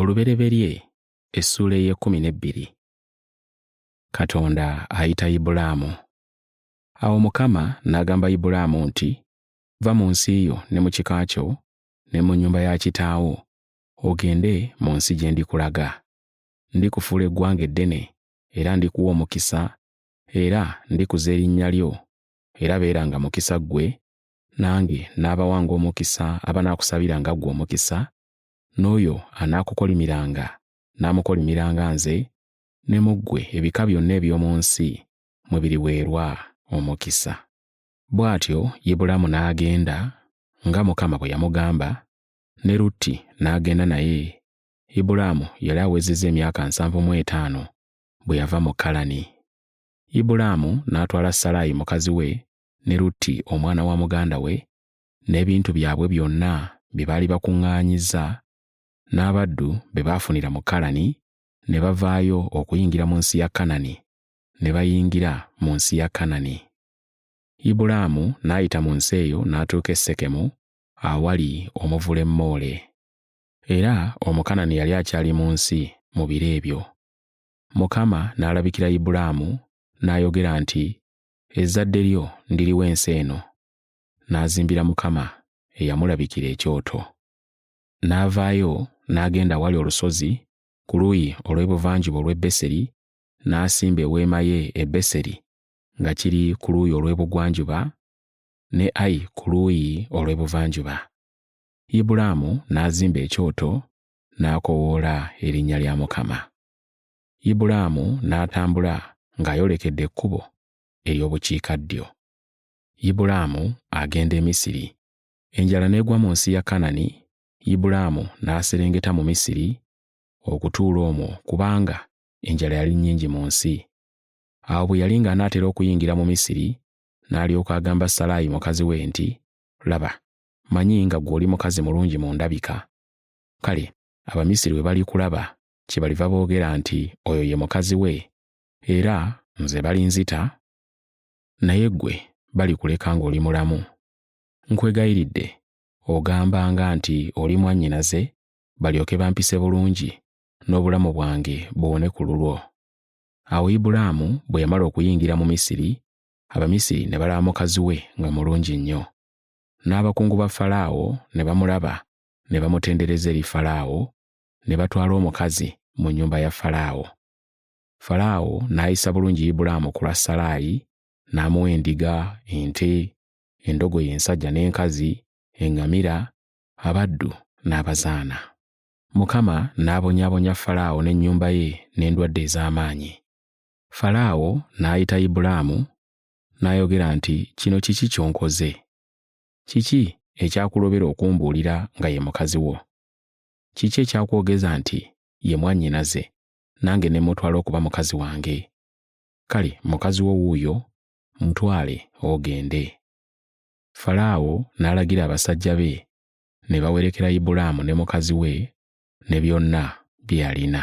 olubereberye essuula ey'ekkumi n'ebbiri katonda ayita ibulaamu awo mukama n'agamba ibulaamu nti va mu nsi yo ne mu kika kyo ne mu nnyumba ya kitaawo ogende mu nsi gye ndikulaga ndikufuula eggwanga eddene era ndikuwa omukisa era ndikuza erinnya lyo era beeranga mukisa ggwe nange n'abawanga omukisa abanaakusabira nga ggwe omukisa, n'oyo anaakukolimiranga n'amukolimiranga nze, ne mu ggwe ebika byonna eby'omu nsi mwe biriweerwa omukisa. Bw'atyo Ibulaamu n'agenda nga Mukama bwe yamugamba, ne Lutti n'agenda naye. Ibulaamu yali awezezza emyaka nsanvu mu etaano bwe yava mu Kalani. Ibulaamu n'atwala Salaayi mukazi we ne Lutti omwana wa muganda we n'ebintu byabwe byonna bye baali bakuŋŋaanyizza n'abaddu be baafunira mu Kalani ne bavaayo okuyingira mu nsi ya Kanani ne bayingira mu nsi ya Kanani. Ibulaamu n'ayita mu nsi eyo n'atuuka e Sekemu awali omuvule Moole. Era Omukanani yali akyali mu nsi mu biro ebyo. Mukama n'alabikira Ibulaamu n'ayogera nti, ezzadde lyo ndiriwa ensi eno n'azimbira mukama eyamulabikira ekyoto n'avaayo n'agenda awali olusozi ku luuyi olw'ebuvanjuba olw'e beseri n'asimba eweema ye e beseri nga kiri ku luuyi olw'ebugwanjuba ne ayi ku luuyi olw'ebuvanjuba ibulaamu n'azimba ekyoto n'akowoola erinnya lya mukama Ibulaamu n'atambula ng'ayolekedde ekkubo ery'obukiikaddyo. Ibulaamu agenda e Misiri. Enjala n'egwa mu nsi ya Kanani, Ibulaamu n'aserengeta mu Misiri okutuula omwo kubanga enjala yali nnyingi mu nsi. Awo bwe yali ng'anaatera okuyingira mu Misiri, n'alyoka agamba Salaayi mukazi we nti, Laba, manyi nga ggwe oli mukazi mulungi mu ndabika. Kale Abamisiri bwe balikulaba kyebaliva boogera nti oyo ye mukazi we era nze balinzita naye ggwe balikuleka ng'oli mulamu nkwegayiridde ogambanga nti oli mwannyinaze balyoke bampise bulungi n'obulamu bwange buwone ku lulwo awo ibulaamu bwe yamala okuyingira mu misiri abamisiri ne balaba mukazi we nga mulungi nnyo n'abakungu ba falaawo ne bamulaba ne bamutendereza eri falaawo ne batwala omukazi mu nnyumba ya Falaawo. Falaawo n'ayisa bulungi Ibulaamu ku lwa Salaayi, n'amuwa endiga, ente, endogoyi ensajja n'enkazi, eŋŋamira, abaddu n'abazaana. Mukama n'abonyaabonya Falaawo n'ennyumba ye n'endwadde ez'amaanyi. Falaawo n'ayita Ibulaamu n'ayogera nti, Kino kiki ky'onkoze? Kiki ekyakulobera okumbuulira nga ye mukazi wo? kiki ekyakwogeza nti ye mwannyinaze nange ne mutwala okuba mukazi wange kale mukazi wo wuuyo mutwale ogende falaawo n'alagira abasajja be ne bawerekera ibulaamu ne mukazi we ne byonna bye yalina